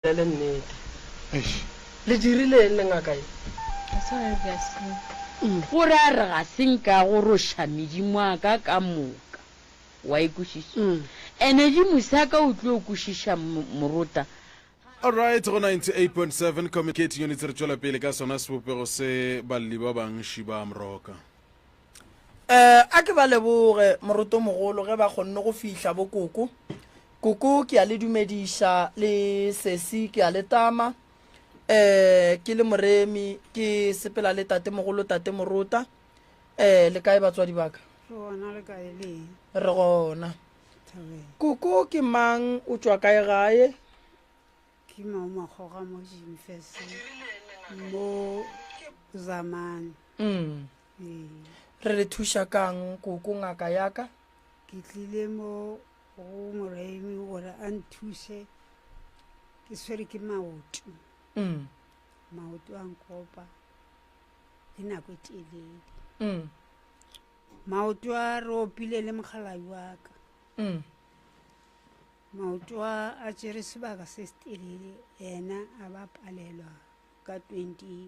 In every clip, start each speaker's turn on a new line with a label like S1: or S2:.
S1: Bolele nnete. Eish. Le dirileng le ngaka ye? Ga se gore re a senka.
S2: Go ra re ga se nka go roša medimo a ka ka moka. Wa e kwešiša? Ene di mosa ka o tlo kwešiša morota. Alright,
S3: go 98.7 Communicating Units re tšwela pele ka sona sebopego se balli ba bangši ba Amroka.
S1: um a ke ba leboge moroto mogolo ge ba kgonne go fihla bo koko koko ke a le dumediša le sesi ke a le tama um ke le moremi ke sepela le tate mogolo tate morota um le kae batswadi baka re gona koko ke mang o tswa kae gae ke
S4: maomakgoga mo jimfes mo zamane mm.
S1: re le thuša kang koko ngaka yaka ke tlile
S4: mo go moraimi gore a nthuse ke swere ke maoto mm. maoto a nkopa e nako e telele mm. maoto a re opile le mogalai wa ka mm. maoto a a tsere sebaka se se telele ena a ba palelwa ka 20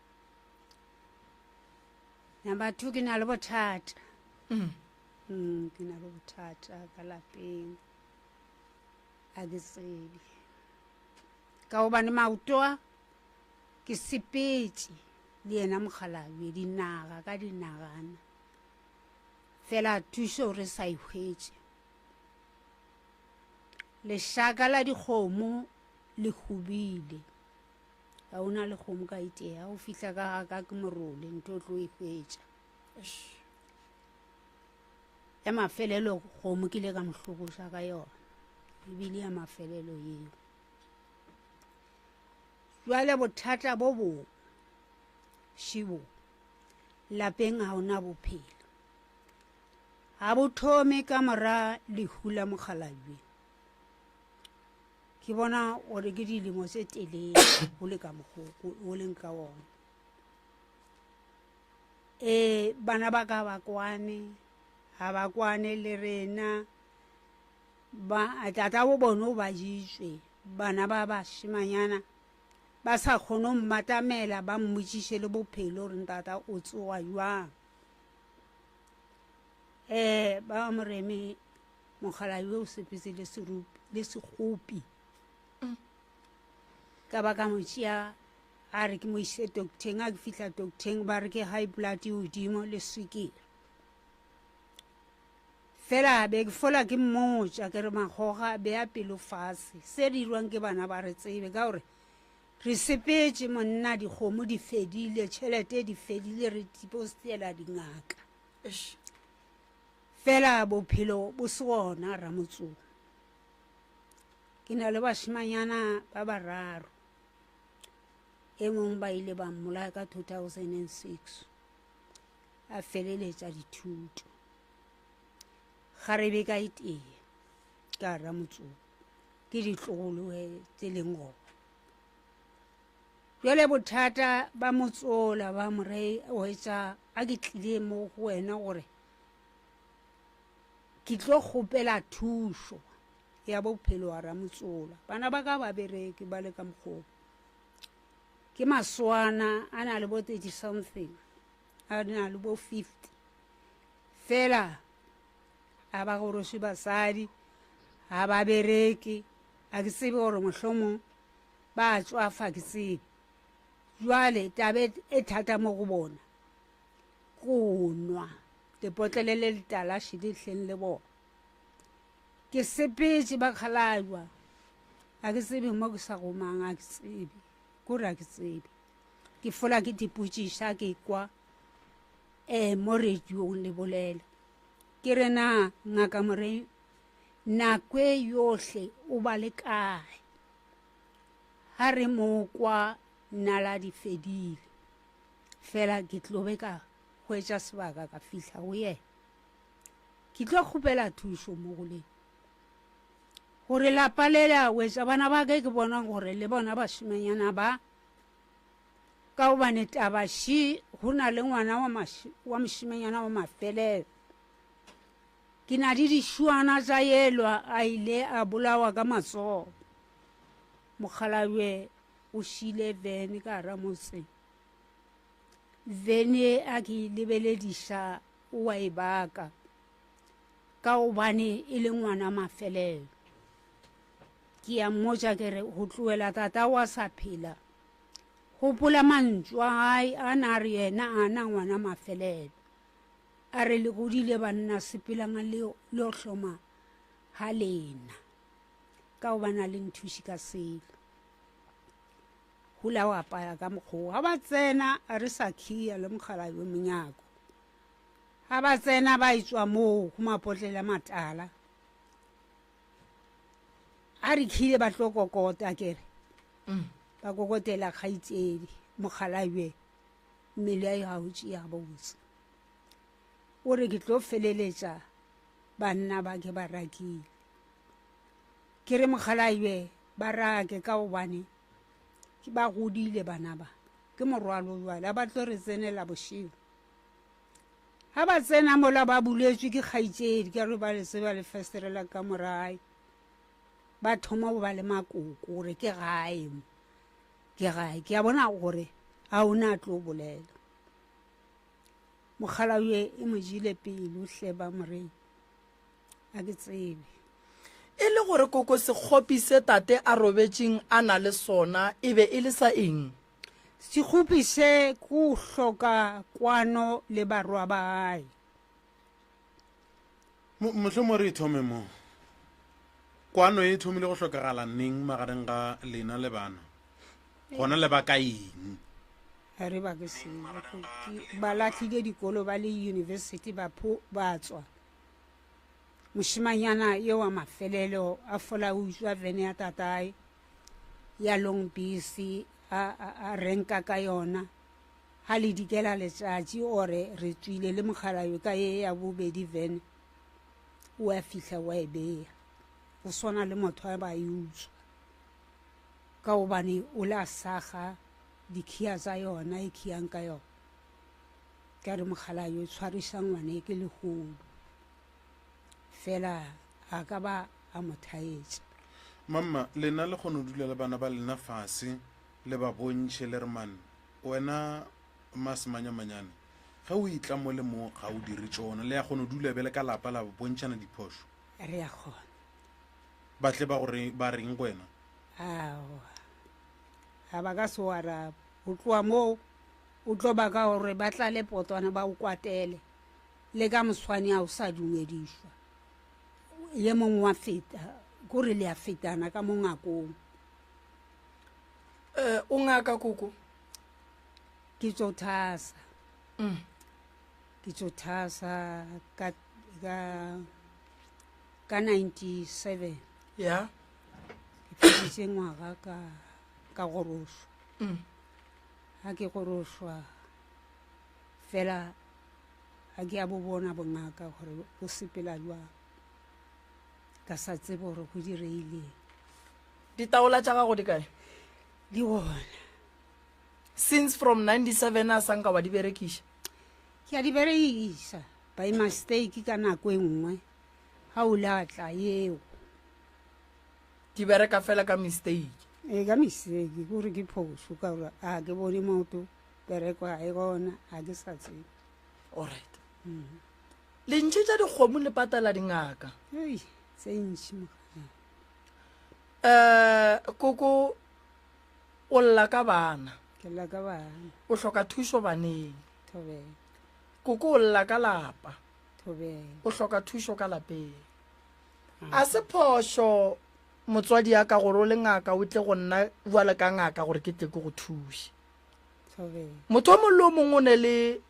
S4: number two ke na le bothata mm. Mm, ke na le bothata ka lapeng a ke tsebe ka gobane maotoa ke sepetse le yena mokgalabje dinaga ka dinagana fela thuso re sa ihwetse lešaka la dikgomo le hubile Ga o na le kgomo ka itee, ga o fihla ka ga ka ke morole, nto o tlo e hwetša. Ya mafelelo kgomo ke ile ka mo hlokoša ka yona, ebile ya mafelelo eo. Jwale bothata bo bong, Shibo, lapeng ga o na bophelo. Ga bo thome ka mora lehu la mokgalabje. ke bona gore ke dilemo tse telele go le ka mogoko o leng ka one um bana ba ka ba kwane ga ba kwane le rena ba tata bo bone o ba jitswe bana ba bashimanyana ba sa kgone go mmatamela ba mmotsiše le bophelo gore ntata o tsoga jwang um ba moreme Mogala yo o sepetse le serupi le segopi ka ba ka mo tšea a re ke mo ise docteng a ke fihla docteng ba re ke high blood e godimo le swikile fela be ke fola ke mmotša ke re magoga be a pelo fase se dirwang ke bana ba re tsebe ka gore re sepetse monna dikgomo di fedile tšhelete di fedile re tipostela dingaka Fela bophelo bo se gona, Ramotsong. Ke na le bašemanyana ba bararo. E mong ba ile ba mmolaya ka 2006, a feleletša dithuto. Ga re be ka itea, ka Ramotsong, ke ditlogoloe tse leng gona. Bjale bothata ba motsola ba mo re, Oetša a ke tlile mo go wena gore ke tlo kgopela thušo ya bophelo wa ramotsola bana ba ka ba bereke ba le ka mokgoo ke maswana a na le bo thirty something a na le bo fifty fela a ba goroswe basadi ga ba bereke a ke tsebe gore mohlomong ba tswafa ke tsebe jwale tabe e thata mo go bona go nwa lepotlele le letala šedihleng le bona ke sepetse ba kgalajwa a ke tsebe mo ke sa gomang a ke tsebe kore a ke tsebe ke fola ke dipotsiša ke kwa um mo radiong le bolela ke re na ngaka more nako e yohle o ba le kae ga re mo kwa nala di fedile fela ke tlo be ka hwetša sebaka ka fihla go yena ke tlo kgopela thušo mo go leng gore lapa le la wetša bana ba ke ke bona gore le bona bašimanyana ba ka gobane tabaši go na le ngwana wa mošimanyana wa mafelelo ke na le dišwana tša yelwa a ile a bolawa ka matsogo mokgalabje o šile vene ka ramotseng vene a ke lebelediša o a e baka ka gobane e le ngwana mafelelo ke ya mmotša ke re go tloela tata wa sa phela gopola mantšu a gae a na a re yena a na ngwana mafelelo a re le godile banna sepelang le yo hloma ga lena ka gobane a le nthuši ka selo Hula o apaya ka mokgoo ga ba tsena re sa khiya le mogala yo monyako ga ba tsena ba e tswa moo go mapotlela matala a re khile ba tlo kokota kere mm. ba kokotela kgaitsedi mogalajwe mmele a ga o tšea botse o re ke tlo feleletša banna ba ke ba rakile ke re mogalajwe ba rake ka gobane Ba godile bana ba, ke morwalo jwale, ga ba tlo re tsenela bošego. Ga ba tsena mola ba buletswe ke kgaitsedi ka re ba le tseba le festerela ka morae, ba thoma go ba le makoko gore ke gae mo, ke gae. Ke a bona gore ga o na tlo bolela. Mokgala yo e mo jele pelo hle ba morena. a ke tsebe e le
S1: gore koko sekgopi se tate a robetšeng a na le sona e be e le sa eng sekgopi
S4: se ku hloka kwano le barwa ba gae
S3: mohle mo re ithome mo kwano e thomile go hlokagala neng magareng ga lena le bana gona le ba ka eng re ba
S4: ke se ba latlhile dikolo ba le university ba pho ba tswa moshimanyana ye wa mafelelo a fola o utswa vene ya tatae ya long busy a renka ka yona ga le dikela letšatši ore re tswile le mogalayo ka ye ya bobedi vene o a fihla wa e beya go swana le motho a ba e utswa ka gobane o le a saga dikhiya tsa yona e khiyang ka yona ka re mogala yo tshwarisa ngwane ke legodu fela a ka ba a mo thaetša mamma
S3: lena le kgone go dula le bana ba lena fase le ba bontšhe le re man wena masemanyamanyane ge o itla mo le mo ga o dire tšona le ya kgone go dula bjale ka lapa la bontšhana diphošo re ya kgona
S4: ba
S3: tle ba gore ba reng go wena aowa
S4: ga ba ka se o araba go tloa moo o tlo ba ka gore ba tla le potwana ba o kwatele le ka moswane a o sa dumedišwa ye mongwe wa feta kore le a fetana ka mo ngakong
S1: um o ngaka koko
S4: ke tso thasa mm. ke tso thasa ka ka 97 ya
S1: ke
S4: pheditše ngwaga ka ka gorošwa mm. ga ke gorošwa fela ga ke ya bo bona bongaka gore bo sepela jwang ka sa tsebe gore go direileng
S1: ditaola tša gago di kae di gona since from 97 a sanka wa di berekiša ke a di
S4: berekisa By mistake ka nako e nngwe ha o latla yeo.
S1: Di bereka fela ka mistake. E ka mistake
S4: gore ke phoso ka gore a ke bone moto bereko ga e gona a ke sa tsebe. Alright.
S1: Mm. Lentšhe tša dikgomo le patala dingaka. Hey, tse
S4: ntši mogana. Eh,
S1: koko o lla ka bana. Ke lla ka bana.
S4: O hloka thušo
S1: baneng. Thobela.
S4: Koko
S1: o lla ka lapa. Thobela. O
S4: hloka thušo ka
S1: lapeng. A se phošo motswadi ya ka gore o le ngaka o tle go nna bjale ka ngaka gore ke tle ke go thuše. Thobela.
S4: Motho o mongwe le o
S1: mongwe o ne le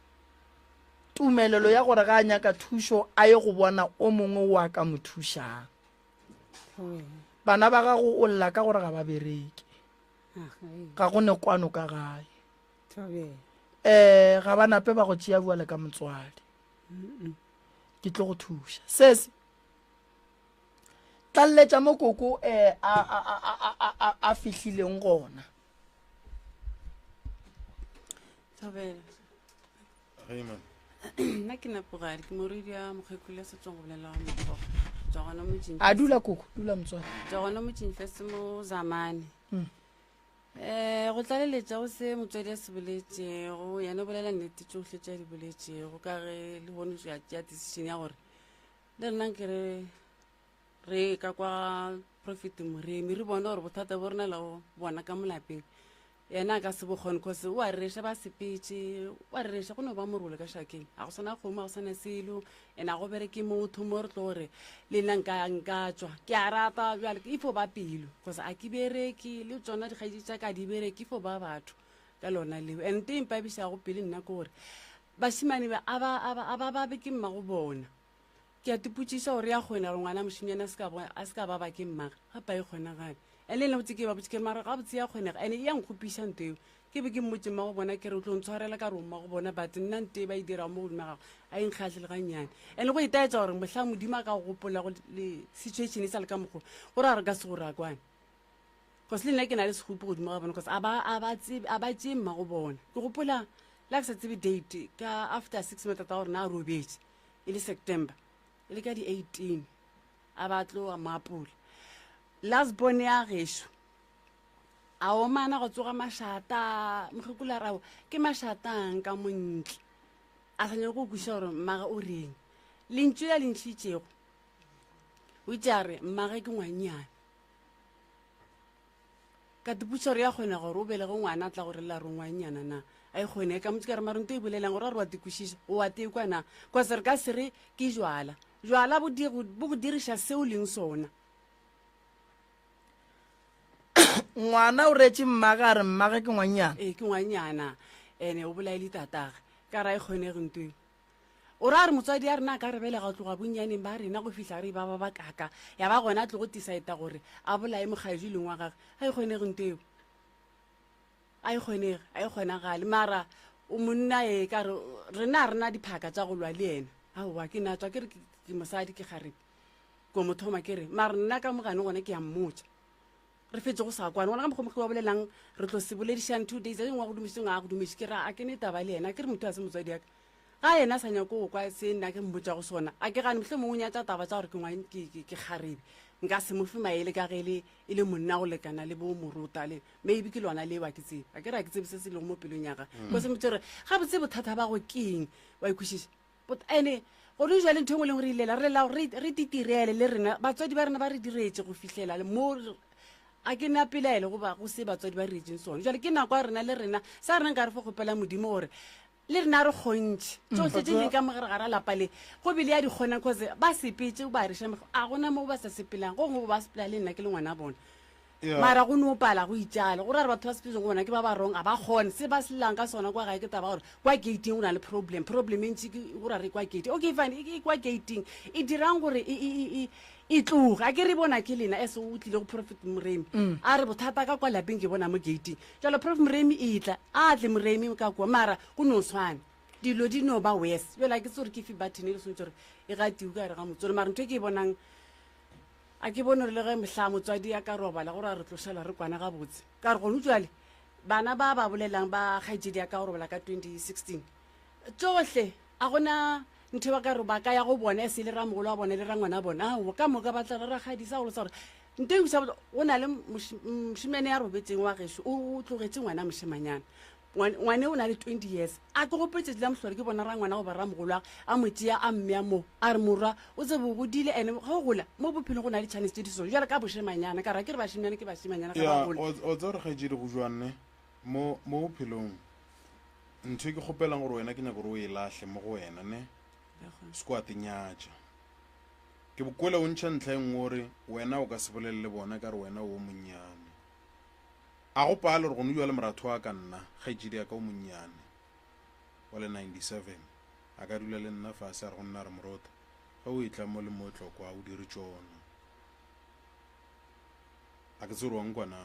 S1: tumelelo ya gore ga a nyaka thušo a ye go bona o mongwe o a ka mo thušang. Thobela. Bana ba gago
S4: o
S1: lla ka gore ga ba bereke. Ga go ne kwano ka gae. um
S4: ga ba nape ba go tšea
S1: bjale ka motswadi ke tlo go thuša sese tlalletša mo koko um a fihlileng gona
S3: nna
S5: ke napogale ke moredi ya mokgekgolo ya setsong go bolela wa mokgo tswa gona motseng a dula koko dula
S1: motswadi tswa gona motseng tlase
S5: mo zamane mm.
S1: um
S5: go tlaleletša go se motswadi a se boletšego yena o bolela nnete tsohle tša di boletšego ka ge le bone ya tšea decision ya gore le rena ke re re ka kwa profit moremi re bone gore bothata bo rena leo bona ka molapeng yena a ka se bokgone cause o a rereša ba sepetse o a rereša go ne ba morole ka šakeng ga go swana kgomo ga go swana selo And a go bereke motho mo re tlo re le nna nka nka tswa ke a rata bjale ke ifo ba pelo because a ke bereke le tsona dikgaetši tša ka di bereke ifo ba batho ka lona leo and te mpabišago pele nna ke gore bašimane ba a ba- a ba- a ba babe ke mmago bona ke a tipotsiša gore ya kgona gore ngwana mošinyane a se ka bo- a se ka ba ba ke mmaga gapa e kgonagale and le nna botse ke ba botse ke re mara gabotse ya kgonega and e ya nkgopiša nto eo Ke be ke mmotše mmagobona ke re, o tlo ntshwarela ka rong mmagobona, but nna nte e ba e dirago mo godimo ga gago a e nkgahle le gannyane. And go itaetsa gore mohlang Modimo a ka go gopolago le situation e sa le ka mokgwa o, gore a re ka se go rakwane. Cause le nna ke na le sekgopi godimo ga bona cause a ba a ba tsebe a ba tšee mmagobona. Ke gopola le ha ke sa tsebe date ka after six months tata wa rena a robetše e le September e le ka di eighteen a ba tlo a mo apola last born ya gešo. a omana go tsoga mašata mokgekolo a rabo ke mašatang ka montle a sa nyako go kwešiša gore mmaga o reng lentšu la le ntšhitšego o itse a re mmage ke ngwanyana ka tepotšiša gore ya kgona gore o belege ngwana a tla go relela re ngwanyana na a e kgone ka motse ka re marento e bolelang gore a re wa tekwešiša o wa tekwa na kose re ka se re ke jwala jwala bo go diriša se o leng sona
S1: ngwana o reetse mmage a re mmage ke ngwannyana ee ke ngwannyana
S5: ene o bolaele tatage ka ra e kgonege ntweng o ra a re motswadi a rena a ka re belega go tloga bonnyaneng ba rena go fitlha re e ba ba ba kaka ya ba gona a tlo go tisaeta gore a bolae mokgaedi leng wa gage a e kgonege nto eo a e kgonege a e kgonagale mara o monna e ka re rena a rena diphaka tsa go lwa le ena aowa ke natswa ke re ke mosadi ke garepe ko mo thoma ke re mare nna ka mogane gone ke a mmotsa re fetse go sa kwane gona ka mokgomokge wa bolelang re tlo se boledišang two days eng wa go dumiseng a go dumese ke ra a ke ne taba le yena ke re motho a se motswadi yaka ga yena a sa nyako go kwa se nna ke mmotsa go sona a ke gane motlhe mongwe o nyatsa taba tsa gore ke ngwane ke- ke- ke kgarebe nka se mofe maele ka ge e le e le monna go lekana le bo morota le maybe ke lona leo a ke tsebe a ke re a ke tsebe se se lego mo pelong yaga ko se motse gore ga botse bothata ba go keng wa ikwešiša ene gone jale ntho engwe e leng gore e lela re lela gore re titirele le rena batswadi ba rena ba re diretse go fitlhela mo a ke na pelaele go ba go se batswadi ba retseng sone jale ke nako ya rena le rena sa rena nka re fo kgopela modimo gore le rena re kgontšhe mm. tsotlhe tse leng ka mogare ga ra lapa le go bele ya di kgonang cause ba sepetse ba reša a gona mo ba sa sepelang go ngwe ba sepela le nna ke le ngwana bona mara go no pala go itšale gore a re batho ba sepetso go bona ke ba ba rong a ba kgone se ba selelang ka sona kwa gae ke taba gore kwa gating go na le problem problem e ntši ke gore a re kwa gating okay fine e kwa gating e dirang gore e, e, e, e tloge a ke re bona ke lena as o tlile go prophet moremi mm. a re bothata ka kwa lapeng ke bona mo gating jalo prophet moremi e tla a tle moremi ka kua mara go no tshwane dilo di no ba wes yola ke tse gore ke fe bathene e le swantse gore e gatiwe ka re ga motsolo mara ntho e ke e bonang A ke bone gore le ge mohla motswadi a ka robala gore a re tlošela re kwana gabotse. Ka re gonu tšwale bana ba ba bolelang ba kgaetšedi ya ka go robala ka 2016 tšohle a go na ntho ba ka re ba ka ya go bona e se le ramogolo wa bona le rangwana wa bona. Aowa, ka moka ba tla re rakgadi sa go losa gore ntho e go na le mošemane ya robetseng wa gešo o tlogetše ngwana mošemanyana. ngwane o na le twenty years a ke gope tšatši la mohlolo ke bona ra ngwana goba ra mogolo age a mo tšea a mmea moo a re morwa o tse bo godile ande ga o gola mo bophelong go na le chance tse di so jale ka bošemanyana ka ra ke re bašemanyana ke bašemanyana ga ba gola o tse gore
S3: ga etsedi go jwanne mo mo bophelong ntho e ke kgopelang gore wena ke nyako gore o e lahle mo go wena ne se ko a tenyatša ke bokwele o ntšha ntlha e nngwe gore wena o ka se bolelele bona ka re wena o monnyane A go pale gore go no jwale moratho wa ka nna, kgaetšedi ya ka o monnyane wa le 97, a ka dula le nna fase a re go nna a re, Morota, ge o etla mo le mo tlo kwa, o dire tšona. A ke tsebe gore wa nkwa na.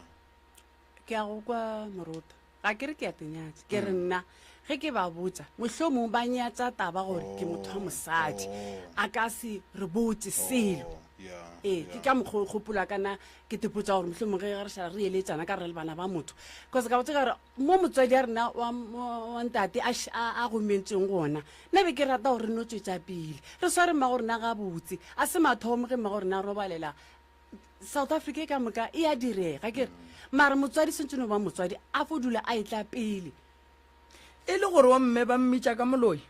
S3: Ke a
S5: go kwa, Morota. Ga ke re ke a te nyatša. Ke re, Nna, Ge ke ba botša, mohlomong ba nyatša taba gore ke motho wa mosadi. A ka se re botše selo. Ee, ke ka mokgwa o gopola ka na ke tepotša gore mohlomong ge re šala re eletšana ka re le bana ba motho, cause ka botša ka gore mo motswadi ya rena wa, wa ntate a, a, a gomentsweng gona, nna be ke rata gore re no tšwetša pele re sware mmago rena gabotse. A se mathomo ge mmago rena a robalela south africa e ka moka e a direga ke re mare motswadi swantse no ba motswadi a fo dula a e tla pele e
S1: le gore wa mme ba mmitša ka moloi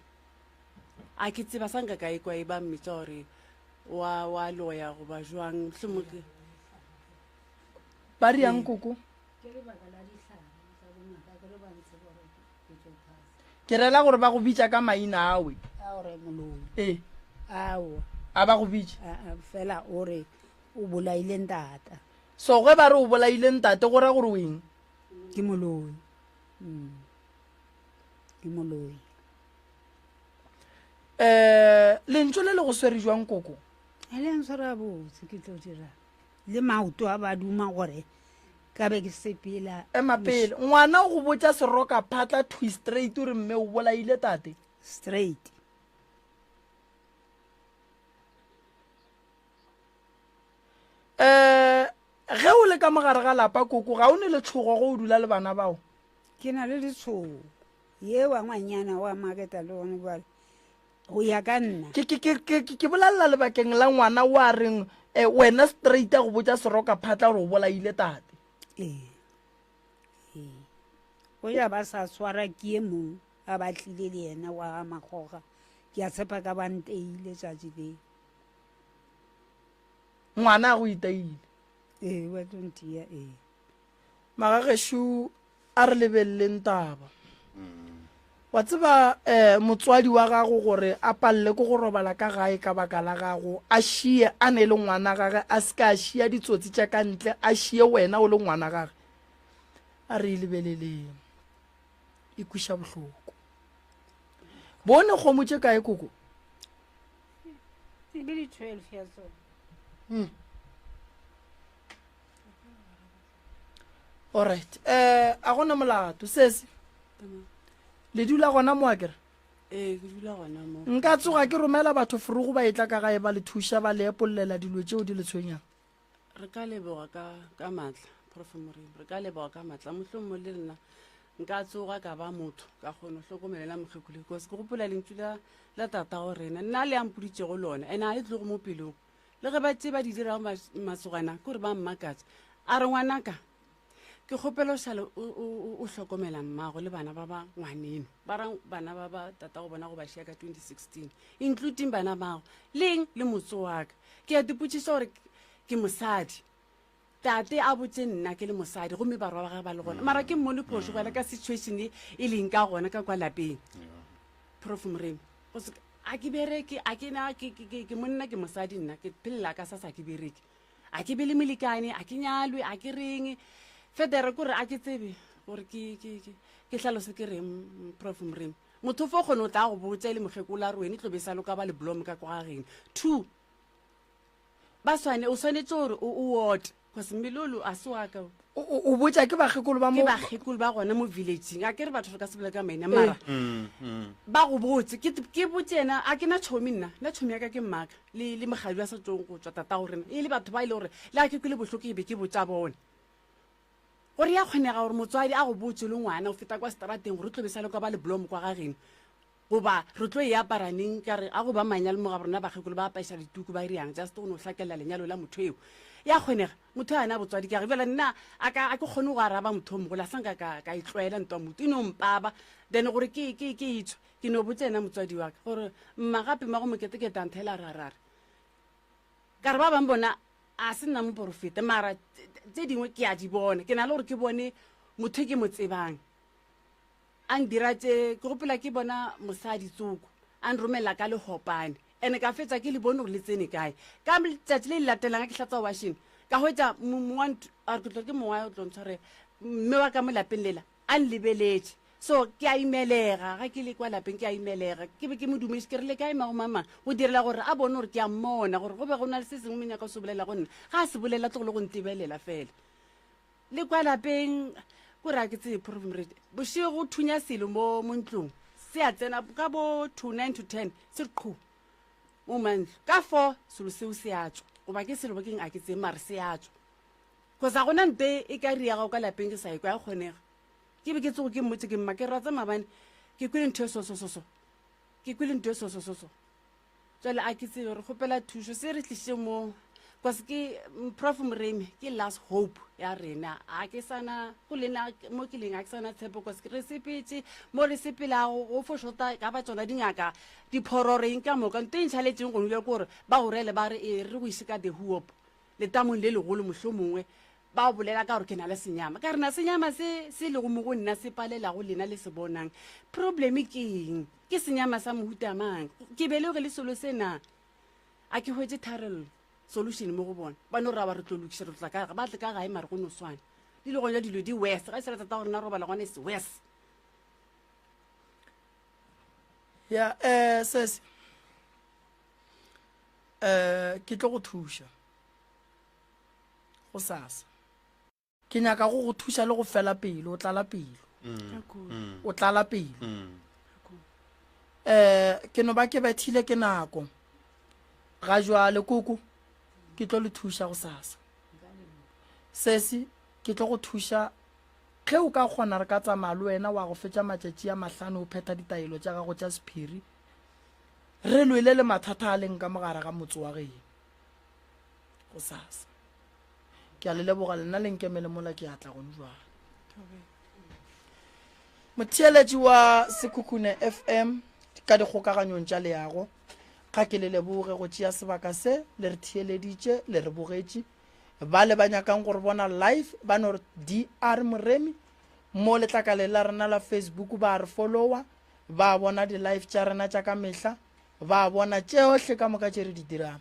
S5: a ke tseba sa nka ka e kwa e ba mmitša gore wa wa loya goba jwang mohlomong
S1: ba re yang koko ke lebaka la dihlare tsa bongaka ke lo ba ntse gore ke rela gore ba go bitša ka maina awe ee a ba go bitša fela o re
S4: o bolaile ntata so ge ba re
S1: o bolaile ntate go ra gore o eng ke moloi
S4: mm. ke moloi um
S1: lentso le le go swere jwang koko e le ntshwara
S4: botse ke tlo dirang Le maoto a ba duma gore ka be ke sepela. Ema pele. Ngwana
S1: o go botša seroka phatla thwi straight o re mme o bolaile tate. Straight. Eh, ge o le ka mogare ga lapa koko ga o ne letshogo go o dula le bana bao? Ke na le
S4: letshogo. Ye wa ngwanyana wa maketa le one jwale. go ya ka nna ke bolelela
S1: lebakeng la ngwana o a reng um wena straight a go botsa seroka phatla gore o bolaile tate ee ee
S4: o ya ba sa swara ke e mong a batlile le yena wa magoga ke a tshepa ka banteile tšatši le
S1: ngwana a go itaile ee wa
S4: tontia ee magagešo
S1: a re lebeleleng taba wa tseba um motswadi wa gago gore a palele ko go robala ka gae ka baka la gago a šie a ne e le ngwana gage a se ka a šia ditsotsi tša ka ntle a šie wena o le ngwana gage a re e lebeleleng e kwiša bohloko bone kgomo tše kae koko
S4: hmm.
S1: alright um a gona molato sese le dula gona mo akere ee ke dula
S5: gona mo nka tsoga ke romela
S1: batho forogo ba etla ka gae ba le thuša ba le epololela dilo tšeo di le tshwenyang re ka
S5: leboga ka ka matla profe morimo re ka leboga ka matla mohlong mo le nna nka tsoga ka ba motho ka kgone go hlokomelela mokgekule because ke gopola lentsu la la tata go rena nna le ampoditšego lone and a le tlogo mo pelong le ge ba tse ba di dirago mas- masogana ke gore ba mmakatsa a re ngwanaka ke kgopela o šale o- o o- o hlokomela mmago le bana ba ba ngwaneno ba ra bana ba ba tata go bona go ba šea ka 2016 including bana bago leng le motse waka ke a dipotšiša gore ke- ke mosadi Tate a botše nna ke le mosadi gomme barwa ba gage ba le gona mara ke mmone phošo bjale ka situation e e leng ka gona ka kwa lapeng prof moremi go se a ke bereke a ke na ke- ke- ke- ke monna ke mosadi nna ke phelela ka sa sa ke bereke a ke be le molekane a ke nyalwe a ke reng federe kore a ke tsebe gore ke- ke ke- ke hlalose ke reng mm, prof moremi motho fo kgone o tla go botša e le mokgekola a re wene tlo be sa loka ba le blom ka kwa gageno two ba swane o swanetse gore o o ote cause mmelolo a se waka o O- o o botša ke
S1: bakgekolo ba ke mo bakgekolo ba gona
S5: mo villageng a ke re batho re ka se bola ka maina mara Mm, mm. ba go botse ke ke botse ena a ke na tshomi nna nna tshomi ya ka ke mmaka le le mogadi wa sa tsong go tswa tata go rena e le batho ba e le gore le a ke kwele bohloko e be ke botsa bone gore ya kgonega gore motswadi a go botse o le ngwana o feta kwa seterateng gore o tlobe sa le kwa ba leblomo kwa gageno goba re tlo e apara neng ka re a go ba manyalo mo ga rona bakgekolo ba apaisa dituku ba riang just go no hlakelela lenyalo la motho eo ya kgonega motho a na botswadi ke jale nna a ka a ke kgone go araba motho o mogolo a sanka ka ka e tlwaela ntwa motho e no mpaba then gore ke ke ke itsho ke no botsa ena motswadi wa ka gore mma gape mma go moketeketa nthela ra ra re ka re ba bang bona a se nna moporofeta mara tse dingwe ke a di bona ke na le gore ke bone motho ke mo tsebang A ndira tše ke gopela ke bona mosadi Tsoko a nromelela ka lehopane ene ka fetša ke le bone gore le tsene kae. Ka tšatši le le latelang ga ke hlatswa washene ka hwetša mong wa ntlo a re ke tlo ke mong wa o tlo ntshwarela mme wa ka mo lapeng lela a nlebeletše so ke a imelega ga ke le kwa lapeng ke a imelega ke be ke mo dumeše ke re le kae mago mama go direla gore a bone gore ke a mmona gore go be go na le se sengwe mo nyaka o se bolela go nna ga a se bolela tlogolo go ntebelela fela Le kwa lapeng, ko ra ke tsebe problem re bošego go thunya selo mo mo ntlong se a tsena ka bo to nine to ten se re qhu mo mantlo ka four selo seo se a tswa goba ke selo ba keng a ke tseye mare se a tswa cause a gona mpe e ka ri ya gago ka lapeng ke sa e kwa ya kgonega ke be ke tsogo ke mmotse ke mma ke ratsa mabane ke kwele ntho e sosososo ke kwele ntho e sosososo Jwale a ke tsebe re kgopela thušo se re tliše mo bcause ke prof moremi ke last hope ya rena a ke sana go lena mo ke leng a ke sana tshepo bcause re sepetse mo re sepelago go fo shota ka ba tsona dingaka diphororeng ka moka nto e ntšhaletseng gongwe bja kore ba gorele ba re e re go ise ka the huop letamong le legolo mohlomongwe Ba o bolela ka gore ke na le senyama. Ka re na senyama se se lego mo go nna se palelago lena le se bonang. Probleme ke eng? Ke senyama sa mohuta mang? Ke beleoge le selo se na? A ke hwetše tharello, solution mo go bona. Ba no raba re tlo lokiša, re tla ka ga ba tle ka gae mare go no swana. Di le gona dilo di worse. Ga e se ra tata gore na robala gona e se worse.
S1: ya um sese um ke tlo go thuša go sasa ke nyaka go go thuša le go fela pelo o tlala pelo mm. o tlala pelo mm. eh ke no ba ke bethile ke nako ga jwale koko ke tlo le thuša go sasa sesi ke tlo go thuša ge o ka kgona re ka tsamaya le wena wa go fetša matšatši a mahlano o phetha ditaelo tša gago tša sephiri re lwele le mathata a leng ka mogare ga motse wa geno gosasa. Ke a le leboga lena le nkemele mola ke atla gone jwale. Motheeletši wa Sekhukhune FM ka dikgokaganyong tša leago, ga ke le leboge go tšea sebaka se le re theeleditše le re bogetše ba le ba nyakang gore bona live ba no re dr moremi mo letlakaleng la rena la facebook ba re followa ba bona di-live tša rena tša ka mehla ba bona tšeohle ka moka tše re di dirang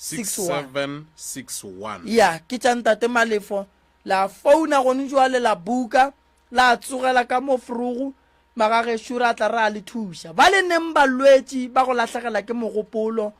S3: 6761.
S1: Ya,
S3: ke tša
S1: Ntate Malefo. La founa gone joale la buka, la tsogela ka mo frogo, magagešo ra tla ra le thuša. Ba le neng balwetši ba go lahlegela ke mogopolo,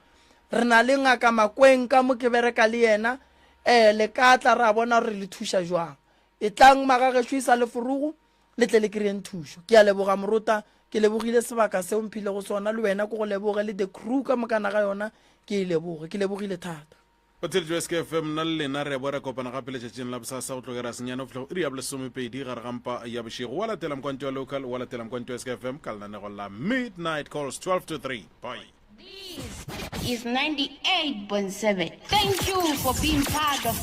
S1: re na le Ngaka Makweng ka mo ke bereka le yena, ee, le ka tla ra bona gore re le thuša jwang. Etlang, magagešo, e sa le forogo, le tle le kry-eng thušo ke a leboga morota ke lebogile sebaka seo mphile go sona le wena ko go leboge le the crew ka mokana ga yona ke e leboge ke lebogile thata o theletšwe s k
S3: fm nna le lena re bo re kopana gape letšatšing la bosasa go tlogera senyane go fitlha go iri ya bolesomepedi gare ga mpa ya bošego wa latela mkwantšo wa local wa latela mkwantšo wa s k f m ka lenanego la midnight calls 12 to 3 bye This is 98.7. Thank you for
S6: being part of